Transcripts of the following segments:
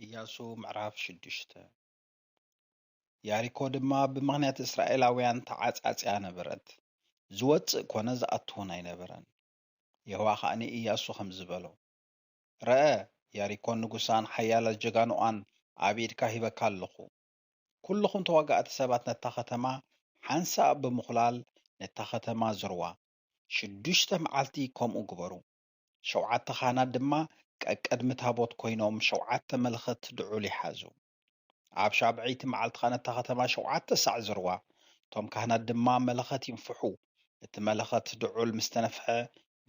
ኢያሱ ምዕራፍ ሽዱሽተ ያሪኮ ድማ ብምኽንያት እስራኤላውያን ተዓጻጽያ ነበረት፣ ዝወጽእ ኰነ ዝኣቱውን ኣይነበረን። የሆዋ ኸኣ ንኢያሱ ከምዚ በሎ፣ ርኣ፣ ያሪኮን ንጉሳን ሓያላት ጀጋኑኣን ኣብ ኢድካ ሂበካ ኣለኹ። ኵልኹም ተዋጋእቲ ሰባት ነታ ኸተማ ሓንሳእ ብምዅላል ነታ ኸተማ ዝርዋ፣ ሽዱሽተ መዓልቲ ከምኡ ግበሩ። ሸውዓተ ኻህናት ድማ ቀቅድሚ ታቦት ኰይኖም ሸውዓተ መለኸት ድዑል ይሓዙ። ኣብ ሻብዐይቲ መዓልቲ ኸኣ ነታ ኸተማ ሸውዓተ ሳዕ ዙርዋ፣ እቶም ካህናት ድማ መለኸት ይንፍሑ። እቲ መለኸት ድዑል ምስ ተነፍሐ፣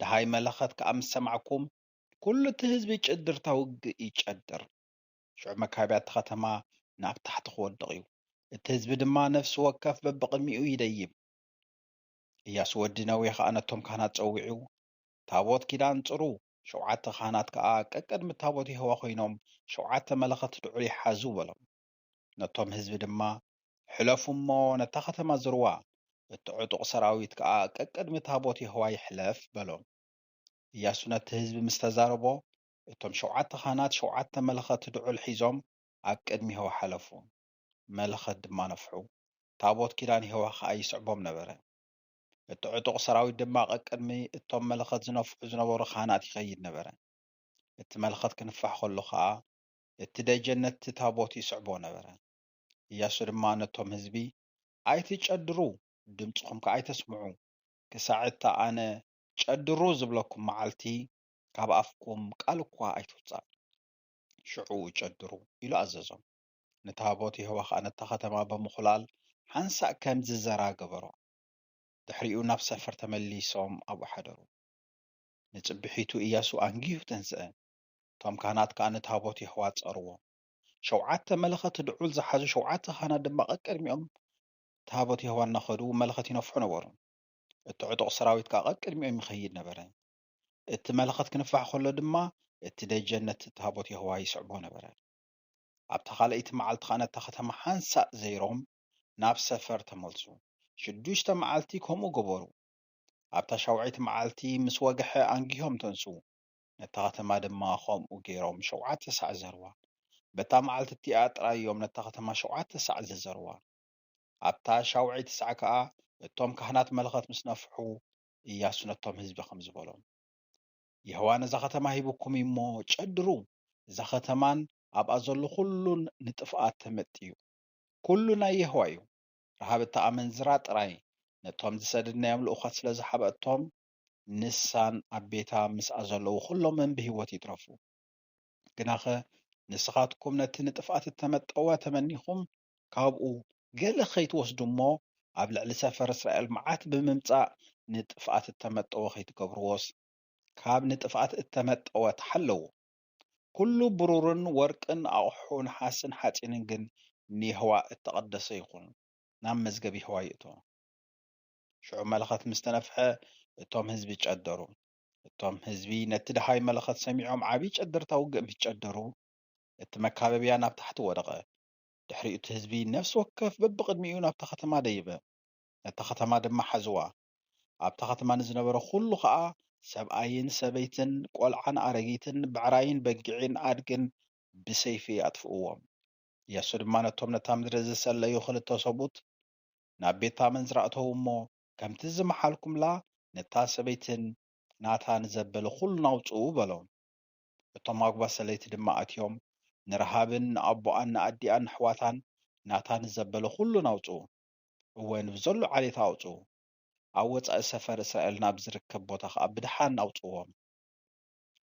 ደሃይ መለኸት ከኣ ምስ ሰማዕኩም፣ ኵሉ እቲ ህዝቢ ጭድርታ ውግእ ይጨድር፣ ሽዑ መካቢያ እታ ኸተማ ናብ ታሕቲ ኽወድቕ እዩ፣ እቲ ህዝቢ ድማ ነፍሲ ወከፍ በብቕድሚኡ ይደይብ። እያሱ ወዲ ነዌ ኸኣ ነቶም ካህናት ጸዊዑ፣ ታቦት ኪዳን ጽሩ፣ ሸውዓተ ኻህናት ከኣ ቀቅድሚ ታቦት የሆዋ ዀይኖም ሸውዓተ መለኸት ድዑል ይሓዙ በሎም። ነቶም ህዝቢ ድማ፣ ሕለፉ እሞ ነታ ኸተማ ዝርዋ፣ እቲ ዕጡቕ ሰራዊት ከኣ ቀቅድሚ ታቦት የሆዋ ይሕለፍ በሎም። እያሱ ነቲ ህዝቢ ምስ ተዛረቦ፣ እቶም ሸውዓተ ኻህናት ሸውዓተ መለኸት ድዑል ሒዞም ኣብ ቅድሚ የሆዋ ሓለፉ፣ መለኸት ድማ ነፍሑ፣ ታቦት ኪዳን የሆዋ ኸኣ ይስዕቦም ነበረ። እቲ ዕጡቕ ሰራዊት ድማ ቀቅድሚ እቶም መለኸት ዝነፍሑ ዝነበሩ ካህናት ይኸይድ ነበረ። እቲ መለኸት ክንፋሕ ከሎ ኸኣ፣ እቲ ደጀን ነቲ ታቦት ይስዕቦ ነበረ። እያሱ ድማ ነቶም ህዝቢ፣ ኣይትጨድሩ፣ ድምጽኹም ከኣ ኣይተስምዑ፣ ክሳዕ እታ ኣነ ጨድሩ ዝብለኩም መዓልቲ፣ ካብ ኣፍኩም ቃል እኳ ኣይትውጻእ። ሽዑ ጨድሩ፣ ኢሉ ኣዘዞም። ንታቦት የሆዋ ኸኣ ነታ ኸተማ ብምዅላል ሓንሳእ ከም ዝዘራ ገበሮ። ድሕሪኡ ናብ ሰፈር ተመሊሶም ኣብኡ ሓደሩ። ንጽብሒቱ እያሱ ኣንጊሁ ተንስኣ፣ እቶም ካህናት ከኣ ንታቦት የሆዋ ጸርዎ። ሸውዓተ መለኸት ድዑል ዝሓዙ ሸውዓተ ካህናት ድማ ቀቅድሚኦም ታቦት የሆዋ እናኸዱ መለኸት ይነፍሑ ነበሩ፣ እቲ ዕጡቕ ሰራዊት ከኣ ቀቅድሚኦም ይኸይድ ነበረ። እቲ መለኸት ክንፋሕ ከሎ ድማ እቲ ደጀን ነቲ ታቦት የሆዋ ይስዕቦ ነበረ። ኣብታ ካልኣይቲ መዓልቲ ኸኣ ነታ ኸተማ ሓንሳእ ዘይሮም ናብ ሰፈር ተመልሱ። ሽዱሽተ መዓልቲ ከምኡ ገበሩ። ኣብታ ሻውዐይቲ መዓልቲ ምስ ወግሐ ኣንጊሆም ተንስኡ። ነታ ከተማ ድማ ከምኡ ገይሮም ሸውዓተ ሳዕ ዘርዋ። በታ መዓልቲ እቲኣ ጥራይ እዮም ነታ ከተማ ሸውዓተ ሳዕ ዝዘርዋ። ኣብታ ሻውዐይቲ ሳዕ ከኣ እቶም ካህናት መለኸት ምስ ነፍሑ፣ እያሱ ነቶም ህዝቢ ከምዚ በሎም፣ የሆዋ ነዛ ከተማ ሂቡኩም እዩ እሞ፣ ጨድሩ፣ እዛ ከተማን ኣብኣ ዘሎ ዅሉን ንጥፍኣት ተመጥዩ። ኵሉ ናይ የሆዋ እዩ። ረሃብ እታ ኣመንዝራ ጥራይ ነቶም ዝሰደድናዮም ልኡኻት ስለ ዝሓብአቶም፣ ንሳን ኣብ ቤታ ምስኣ ዘለዉ ዅሎምን ብህይወት ይትረፉ። ግናኸ ንስኻትኩም ነቲ ንጥፍኣት እተመጠወ ተመኒኹም ካብኡ ገለ ኸይትወስዱ እሞ ኣብ ልዕሊ ሰፈር እስራኤል መዓት ብምምጻእ ንጥፍኣት እተመጠወ ኸይትገብርዎስ፣ ካብ ንጥፍኣት እተመጠወ ተሓለዉ። ኵሉ ብሩርን ወርቅን ኣቕሑ ነሓስን ሓጺንን ግን ንየሆዋ እተቐደሰ ይኹን፣ ናብ መዝገብ የሆዋ ይእቶ። ሽዑ መለኸት ምስ ተነፍሐ፣ እቶም ህዝቢ ጨደሩ። እቶም ህዝቢ ነቲ ደሃይ መለኸት ሰሚዖም ዓብዪ ጨደርታ ውግእ ምስ ጨደሩ፣ እቲ መካበብያ ናብ ታሕቲ ወደቐ። ድሕሪኡ እቲ ህዝቢ ነፍሲ ወከፍ በብቕድሚኡ ናብታ ኸተማ ደየበ፣ ነታ ኸተማ ድማ ሓዝዋ። ኣብታ ኸተማ ንዝነበረ ዅሉ ኸኣ፣ ሰብኣይን ሰበይትን፣ ቈልዓን ኣረጊትን፣ ብዕራይን በጊዕን ኣድግን ብሰይፊ ኣጥፍእዎም። የሱስ ድማ ነቶም ነታ ምድሪ ዝሰለዩ ኽልተ ሰብኡት ናብ ቤት ኣመንዝራ ኣእተዉ እሞ፣ ከምቲ ዝመሓልኩምላ፣ ነታ ሰበይትን ናታ ንዘበለ ዅሉን ኣውጽኡ በሎም። እቶም ኣጕባዝ ሰለይቲ ድማ ኣትዮም ንረሃብን ንኣቦኣን ንኣዲኣን ነሕዋታን ናታ ንዘበለ ዅሉን ኣውጽኡ። እወ ንብዘሎ ዓሌት ኣውጽኡ፣ ኣብ ወጻኢ ሰፈር እስራኤል ናብ ዚርከብ ቦታ ኸኣ ብደሓን ኣውጽእዎም።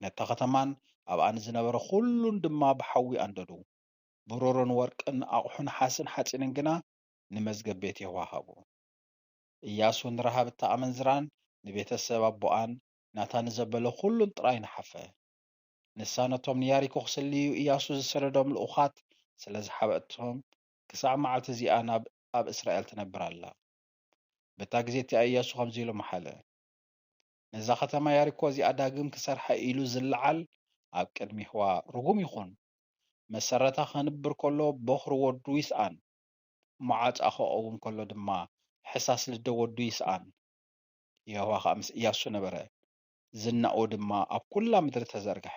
ነታ ኸተማን ኣብኣ ንዝነበረ ዅሉን ድማ ብሓዊ ኣንደዱ። ብሩርን ወርቅን ኣቕሑ ነሓስን ሓጺንን ግና ንመዝገብ ቤት የሆዋ ሃቡ። እያሱ ንረሃብ እታ ኣመንዝራን ንቤተ ሰብ ኣቦኣን ናታ ንዘበለ ዅሉን ጥራይ ነሓፈ። ንሳ ነቶም ንያሪኮ ኺስልዩ እያሱ ዝሰደዶም ልኡኻት ስለ ዝሓበኣቶም ክሳዕ መዓልቲ እዚኣ ናብ ኣብ እስራኤል ትነብር ኣላ። በታ ግዜ እቲኣ እያሱ ከምዚ ኢሉ መሓለ፣ ነዛ ኸተማ ያሪኮ እዚኣ ዳግም ክሰርሓ ኢሉ ዝለዓል ኣብ ቅድሚ የሆዋ ርጉም ይኹን፣ መሰረታ ኸንብር ከሎ ቦኽሪ ወዱ ይስኣን፣ መዓጻ ኸቐውም ከሎ ድማ ሕሳስ ልደ ወዱ ይስኣን። የሆዋ ኸኣ ምስ እያሱ ነበረ፣ ዝናኡ ድማ ኣብ ኵላ ምድሪ ተዘርግሐ።